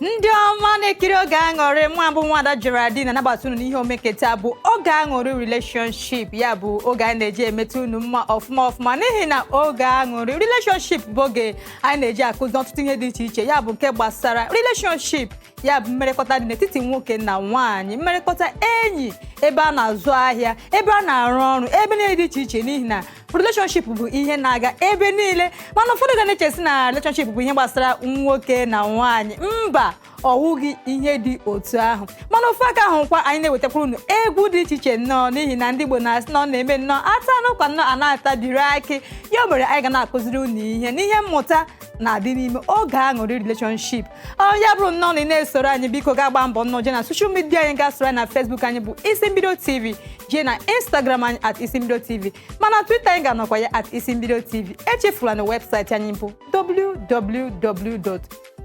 ndị ọma na-ekiri oge aṅụrị mụwa bụ nwada Geraldine na-anabata unu n'ihe omume nke taa bụ oge aṅụrị relationship ya bụ oge anyị na-eji emeta unu mma ọfụma ọfụma n'ihi na oge aṅụrị relationship bụ oge anyị na-eji akụzi ọtụtụ ihe dị iche iche ya bụ nke gbasara relationship ya bụ mmerekọta dị n'etiti nwoke na nwaanyị mmerekọta enyi ebe a na-azụ ahịa ebe a na-arụ ọrụ ebe niile dị iche iche n'ihi na relationship bụ ihe na-aga ebe niile mana ụfọdụ ga na-echesi na relationship bụ ihe gbasara nwoke na nwaanyị mba ọ wụghị ihe dị otu ahụ mana ofu aka ahụ kwa anyị na-ewetakwara unu egwu dị iche iche nnọọ n'ihi na ndị Igbo na-asị na ọ na-eme nnọọ ata n'ụkwa nnọọ a na-atabiri akị ya o mere anyị ga na-akụziri unu ihe n'ihe mmụta na-adị n'ime oge aṅụrị relationship ọ ya bụrụ nnọọ na ị na-esoro anyị biko gaa gbaa mbọ nnọọ jee na social media anyị gaa soro anyị na Facebook anyị bụ isi mbido tv jee na Instagram anyị at isi mbido tv mana Twitter anyị ga-anọkwa ya at isi mbido tv echefula na webụsaịtị anyị bụ www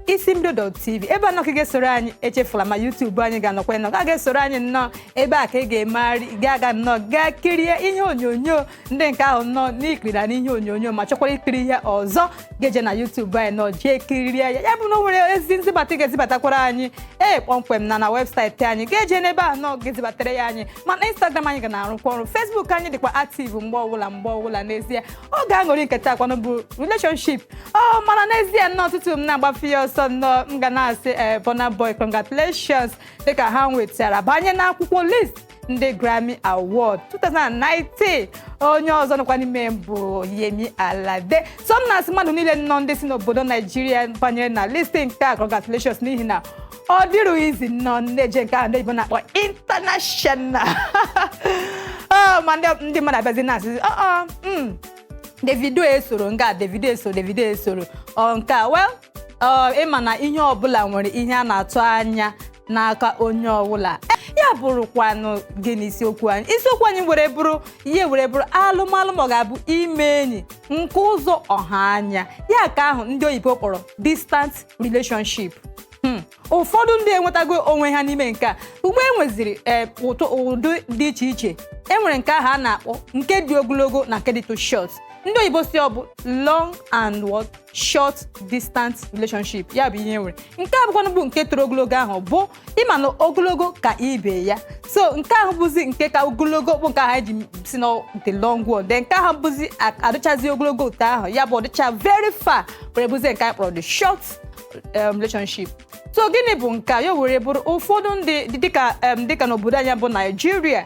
isi mbido tv ebe a nnọọ ka ị ga-esoro anyị echefula ma YouTube anyị ga-anọkwa nnọọ gaa gaa soro anyị nnọọ ebe a ka ị ga-emegharị ga-aga nnọọ gaa kirie ihe onyonyo ndị nke ahụ nnọọ na i kirila n'ihe onyonyo ma chọkwara ikiri ihe ọzọ ga-eje na YouTube anyị nnọọ jee kirie ya ya bụ na o nwere ozi nzibata ị ga-ezibatakwara anyị ee kpọmkwem na na webụsaịtị anyị ga-eje n'ebe ahụ nnọọ gaa zibatara ya anyị mana Instagram anyị ga na-arụkwa ọrụ Facebook anyị dịkwa active mgbe ọbụla mgbe ọbụla n'ezie oge aṅụrị nke taa kwanụ bụ relationship ọ mana n'ezie nnọọ tutu m na-agbafe ya ọsọ nnọọ m ga na-asị ee Burna Boy congratulations dịka ha nwetara banye n'akwụkwọ list ndị Grammy Award 2019 onye ọzọ nọkwa n'ime bụ Yemi Alade so m na-asị mmadụ niile nnọọ ndị si n'obodo Naijiria banyere na list nke a congratulations n'ihi na ọ dịrọ easy nnọọ na-eje nke ahụ ndị oyibo na-akpọ international Oh, ma ndị ndị mmadụ abịazi na-asị "Oh, oh, mm, Davido esoro nke a Davido esoro Davido esoro ọ nke a well ọ, ịma na ihe ọbụla nwere ihe a na-atụ anya n'aka onye ọbụla ya bụrụkwanụ gịnị isiokwu anyị isiokwu anyị were bụrụ ihe were bụrụ alụmalụ ma ọ ga-abụ ime enyi nke ụzọ ọha anya ya ka ahụ ndị oyibo kpọrọ distant relationship Hmm. ụfọdụ ndị enwetago onwe ha n'ime nke a ugbu e nweziri ee ụtụ ụdị dị iche iche enwere nke ahụ a na-akpọ nke dị ogologo na nke dị too short ndị oyibo si ọ bụ long and what short distance relationship ya bụ ihe e nwere nke a bụkwanụ bụ nke toro ogologo ahụ bụ ịma na ogologo ka ibe ya so nke ahụ bụzi nke ka ogologo bụ nke ahụ anyị ji si na the long one then nke ahụ bụzi a- adịchazi ogologo otu ahụ ya bụ ọ dịcha very far were bụzie nke anyị kpọrọ the short um, relationship so gịnị bụ nke a ya were bụrụ ụfọdụ ndị dị- dịka um, dịka n'obodo anyị bụ naijiria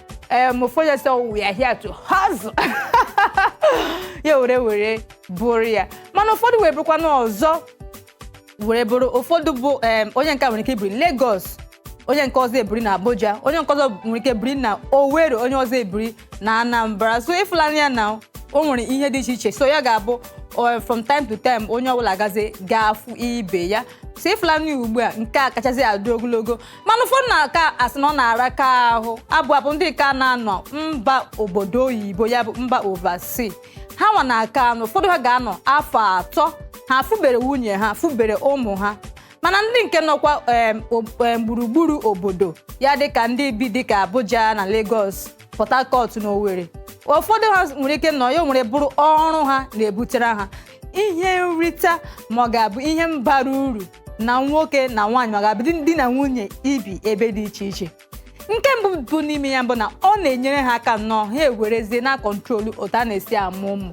um, ụfọdụ ya sị "Oh, we are here to hustle ya were were bụrụ ya mana ụfọdụ wee bụrụkwa n'ọzọ were bụrụ ụfọdụ bụ em, onye nke a nwere ike ibiri Lagos onye nke ọzọ ebiri na Abuja onye nke ọzọ nwere ike biri na Owerri onye ọzọ ebiri na Anambra so ị fụlanị ya na o nwere ihe dị iche iche so ya ga-abụ eh, from time to time onye ọbụla gazi ga-afụ ibe ya so ị fụlanị ya ugbu a nke a kachasị adị ogologo mana ụfọdụ na-aka asị na ọ na-araka ahụ abụ abụ ndị ka na-anọ mba obodo oyibo ya bụ mba overseas ha nwa na-aka anọ ụfọdụ ha ga-anọ afọ atọ ha fụbere nwunye ha fụbere ụmụ ha mana ndị nke nọkwa em, o- em, gburugburu obodo ya dịka ndị bi dịka abuja na lagos port harcourt na owerri ụfọdụ ha nwere ike nọ ya o were bụrụ ọrụ ha na-ebutere ha ihe nrita ma ọ ga-abụ ihe bara uru na nwoke na nwaanyị ma ọ ga-abụ di na nwunye ibi ebe dị iche iche nke mbụ bụ n'ime ya bụ na ọ na-enyere ha aka nnọọ ha ewerezie na-control otu a na-esi amụ ụmụ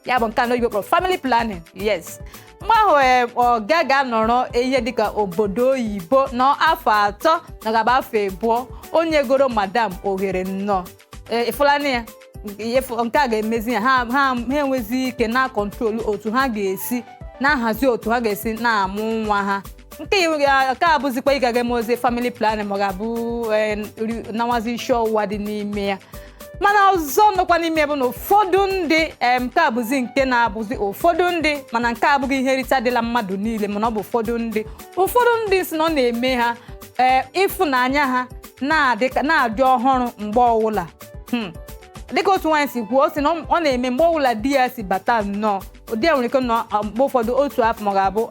ya bụ nke a ndị oyibo kpọrọ family planning yes mgbe ahụ ee, ọ ga ga-anọrọ ihe dịka obodo oyibo nọ afọ atọ ma ọ ga-abụ afọ abụọ o nyegoro madam ohere nnọọ Ee, ị fụlanị ya Nke- ịfụ- nke a ga-emezi ya ha ha ha enwezi ike na-control otu ha ga-esi na-ahazi otu ha ga-esi na-amụ nwa ha nke iwu ga- nke a bụzikwa ị ga- ga-emezi family planning ma ọ ga-abụ ee, ri- na-awazi isi ọwụwa dị n'ime ya mana ọzọ nọkwa n'ime ya bụ na ụfọdụ ndị em, nke a bụzi nke na-abụzi ụfọdụ ndị mana nke a abụghị ihe nrita dịla mmadụ niile mana ọ bụ ụfọdụ ndị ụfọdụ ndị sị na ọ na-eme ha ee ịfụnanya ha na-adị ọhụrụ mgbe ọwụla hmm. dịka otu nwaanyị si kwuo ọ sị na ọ na-eme mgbe ọwụla di ya si bata nnọọ di ya nwere ike nọ um, mgbe ụfọdụ otu afọ ma ọ ga-abụ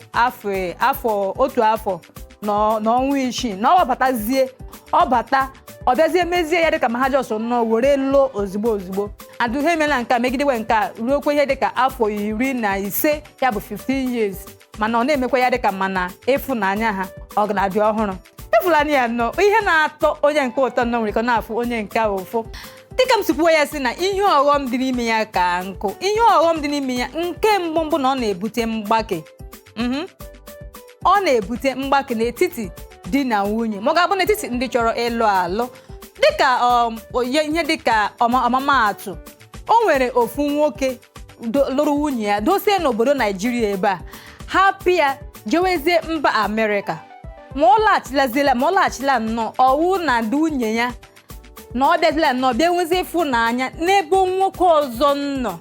afọ otu afọ na ọnwa isii na ọ ba- batazie ọ bata ọ bịazie mezie ya dịka ma ha just nnọọ were lụọ ozugbo ozugbo and ha emela nke a megidewe nke a ruokwa ihe dịka afọ iri na ise ya bụ 15 years mana ọ na-emekwa ya dịka mana ịfụnanya ha ọ ka na-adị ọhụrụ ị fụlanị ya na ihe na-atọ onye nke a ụtọ nnọọ nwere ike na-afụ onye nke a ụfụ dịka m si kwuo ya sị na ihe ọghọm dị n'ime ya ka nkụ ihe ọghọm dị n'ime ya nke mbụ bụ na ọ na-ebute mgbake Mhm. ọ na-ebute mgbake n'etiti di na nwunye ma ọ ga-abụ n'etiti ndị chọrọ ịlụ alụ dịka um, oye- ihe dịka ọma- ọmụmaatụ o nwere ofu nwoke do- lụrụ nwunye ya dosie n'obodo naijiria ebe a hapụ ya jewezie mba amerịka ma ọ laghachilazila ma ọ laghachila nnọọ ọ wụ na ndị nwunye ya na ọ bịazila nnọọ bịa nwezie ịfụnanya n'ebe nwoke ọzọ nọ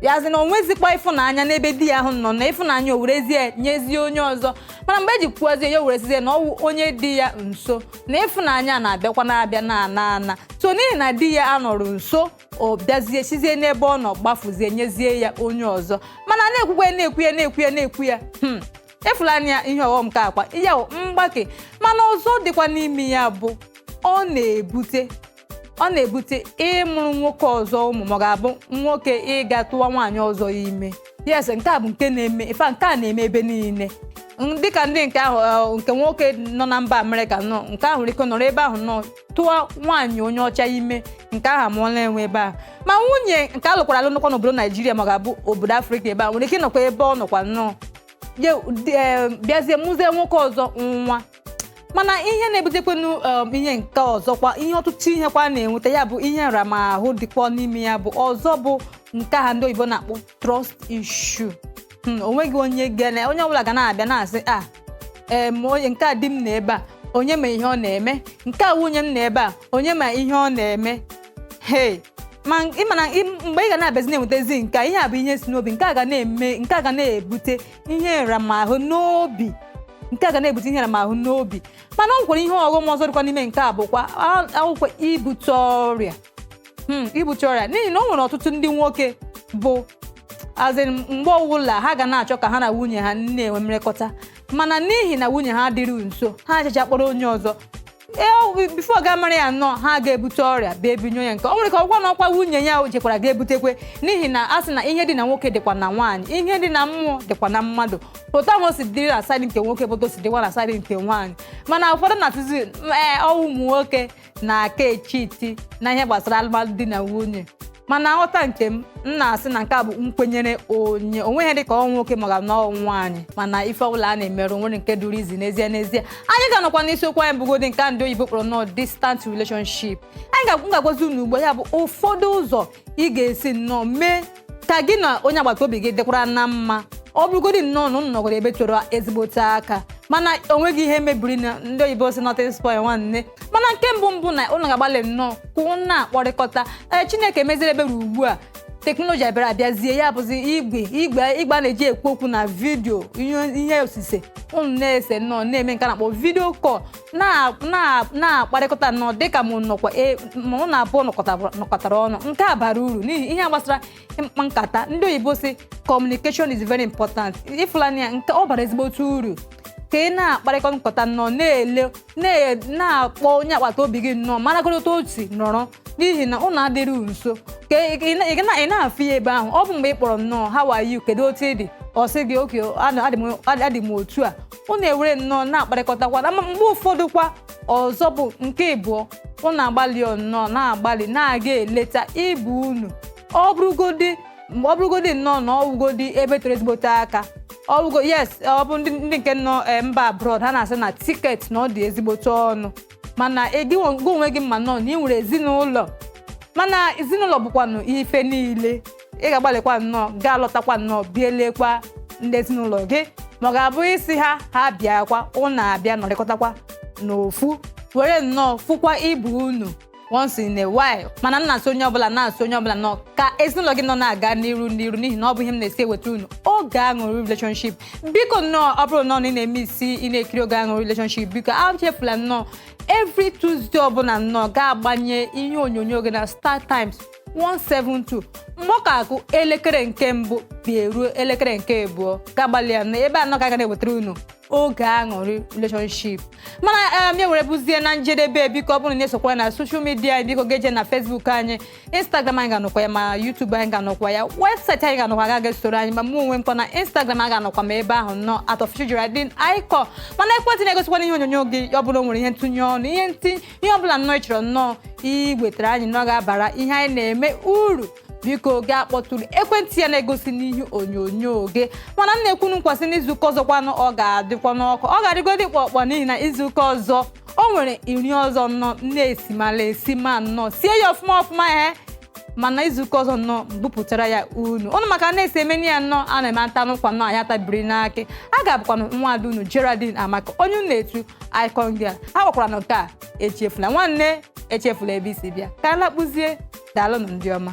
ya sị na o nwezikwa ịfụnanya n'ebe di ya ahụ nọ na ịfụnanya o werezie nyezie onye ọzọ mana mgbe e ji kwuozie ya o were sịzie na ọ wụ onye dị ya nso na ịfụnanya na-abịakwa na-abịa na-ana ana so n'ihi na di ya anọrụ nso ọ bịazie sizie n'ebe ọ nọ gbafuzie nyezie ya onye ọzọ mana na-ekwukwe na-ekwu ya na-ekwu ya na-ekwu ya hmm, ị fụlanụ ya ihe ọghọm ka akwa ya bụ mgbake mana ọzọ dịkwa n'ime ya bụ ọ na-ebute ọ na-ebute ịmụrụ nwoke ọzọ ụmụ ma ọ ga-abụ nwoke ịga tụwa nwaanyị ọzọ ime yes nke a bụ nke na-eme ife nke a na-eme ebe niile dịka ndị nke ahụ eh, nke nwoke nọ na mba amerịka nọ nke ahụ nwere ike nọrọ ebe ahụ nọ tụwa nwaanyị onye ọcha ime nke ahụ amụọla ya nwa ebe ahụ ma nwunye nke a lụkwara alụ nọkwa n'obodo naijiria ma ọ ga-abụ obodo afrịka ebe a nwere ike nọkwa ebe ọ nọkwa nnọọ ye- dị- eh, bịazie mụzie nwoke ọzọ nwa mana ihe na-ebutekwenu um, ihe nke ọzọkwa ihe ọtụtụ ihekwa a na-enweta ya bụ ihe nramahụ dịkwa n'ime ya bụ ọzọ bụ nke ha ndị oyibo na-akpọ trust issue hmm, onweghị onye ga na onye ọbụla ga na-abịa na-asị a ah, em onye nke a di m nọ ebe a onye ma ihe ọ na-eme nke a nwunye m nọ ebe a onye ma ihe ọ na-eme hey ma ị ma na mgbe ị ga na-abịazi na-enwetazi nke ihe a bụ ihe si n'obi nke a ga na-eme nke a ga na-ebute ihe nramahụ n'obi nke a ga na-ebute ihe nramahụ n'obi mana o nwekwara ihe ọghọm ọzọ dịkwa n'ime nke a bụkwa ọ wụkwa ibute ọrịa hmm, ibute ọrịa n'ihi na o nwere ọtụtụ ndị nwoke bụ a sị mgbe ọbụla ha ga na-achọ ka ha na nwunye ha na-enwe mmerekọta mana n'ihi na nwunye ha adịrị nso ha achacha kpọrọ onye ọzọ e, before ị ga-amara ya nnọọ ha ga-ebute ọrịa bịa ebunye onye nke ọ nwere ka ọgwa na ọkwa nwunye ya jekwara ga-ebutekwe n'ihi na a sị na ihe dị na nwoke dịkwa na nwaanyị ihe dị na mmụọ dịkwa na mmadụ otu ahụ o si dịrị na side nke nwoke bụ otu o si dịkwa na side nke nwaanyị mana ụfọdụ na-atụzi ee ọ wụ ụmụ nwoke na-aka e-cheat na ihe gbasara alụmalụ di na nwunye mana nghọta nke m m na-asị na nke a bụ nkwenyere onye onweghị dịka ọ wụ nwoke ma ọ ga-abụ na ọ wụ nwaanyị mana ife ọbụla a na-emerụ nwere nke duru izi n'ezie n'ezie anyị ga-anọkwa n'isiokwu anyị bụgodị nke a ndị oyibo kpọrọ long distance relationship anyị ga-agwazi unu ugbu a ya bụ ụfọdụ ụzọ ị ga-esi nnọọ mee ka gị na onye agbata obi gị dịkwara na mma ọ bụrụgodị nnọọ na unu nọgoro ebe tere ezigbote aka mana o nweghị ihe mebiri na ndị oyibo sị nothing spoil nwanne mana nke mbụ bụ na unu ga-agbalị nnọọ ka unu na-akpọrịkọta ee chineke meziri ebere ugbu a teknọlọji abịara abịazie ya bụzi igwe igwe igwe a na-eji ekwu okwu na video ihe ihe osise unu na-ese nnọọ na-eme nke a na-akpọ video call na- na- na-akparịkọta nnọọ dịka mụ nọkwa e- ma ụnụ abụọ nọkọtabara- nọkọtara ọnụ nke a bara uru n'ihi ihe gbasara ịkpa nkata ndị oyibo sị communication is very important ị fụlanụ ya nke ọ bara ezigbote uru ka ị na-akparịkọ nkata nnọọ na-ele na- na-akpọ onye agbata obi gị nnọọ maragodo otu o si nọrọ n'ihi na ụnụ adịrị nso ka ị- ị na- ị na- ị na-afụ ya ebe ahụ ọ bụ mgbe ị kpọrọ nnọọ how are you kedu otu ị dị ọ sị gị okay adị m otu a unu ewere nnọọ na-akparịkọtakwa na mgbe ụfọdụ kwa ọzọ bụ nke ịbụọ unu agbalịa nnọọ na-agbalị na-aga eleta ibe unu ọ bụrụgodị mgbe ọ bụrụgodị nnọọ na ọwụgodị ebe toro ezigbote aka ọwụgo yes ọ bụ ndị nke nọ eh, mba abroad ha na-asị na ticket na ọ dị ezigbote ọnụ mana gị onwe gị ma nnọọ na ị nwere ezinụlọ mana ezinụlọ bụkwanụ ife niile ị ga-agbalịkwa nnọọ gaa lọtakwa nnọọ bịa elekwa ndị ezinụlọ gị ma ọ ga-abụ ị sị ha ha bịakwa ụnụ abịa nọrịkọtakwa n'ofu were nnọọ fụkwa ibe unu once in a while mana m na-asị onye ọbụla na-asị onye ọbụla nnọọ ka ezinụlọ gị nnọọ na-aga n'iru n'iru n'ihi na ọ bụ ihe m na-esi eweta unu oge aṅụrị relationship biko nnọọ ọ bụrụ nnọọ na ị na-emissi ị na-ekiri oge aṅụrị relationship biko achefula nnọọ every Tuesday ọbụla nnọọ gaa gbanye ihe onyonyo gị na Star Times 172 mgbe ọ ka akụ elekere nke mbụ bịa ruo elekere nke abụọ gaa gbalịa na ebe a nnọọ ka a ga na-ewetara unu oge aṅụrị relationship mana ya eh, were bụzie na njedebe biko ọ bụrụ na ị na-esokwa na social media biko gaa jee na Facebook anyị instagram anyị ga-anọkwa ya ma youtube anyị ga-anọkwa ya website anyị ga-anọkwa ya gaa soro anyị ma mụ onwe m kwa na instagram a ga-anọkwa m ebe ahụ nnọọ at official Geraldine Icon mana ekwentị na-egosikwa n'ihe onyonyo gị ọ bụrụ na o nwere ihe ntụnye ọnụ ihe ntinye ihe ọ bụla nnọọ ị chọrọ nnọọ iwetara anyị nnọọ ga-abara ihe anyị na-eme uru biko gaa kpọtụrụ ekwentị a na-egosi n'ihe onyonyo gị mana m na-ekwe unu nkwa sị n'izuụka ọzọkwanụ ọ ga-adịkwa nnọọ ọkụ ọ ga-adịgodi kpọkpọ n'ihi na izuụka ọzọ o nwere iri ọzọ nnọọ na-esimala esima nnọọ sie ya ọfụma ọfụma ya mana izuụka ọzọ nnọọ bupụtara ya unu ụnụ ma ka a na-esi emeni ya nnọọ a na-eme a taa n'ụkwa nnọọ ya tabiri n'akị a ga-abụkwanụ nwa ada unu Geraldine Amaka onye unu na-etu icon girl a gwakwara na nke a echefula nwanne echefula ebe i si bịa ka anyị lakpuzie daalụnụ ndị ọma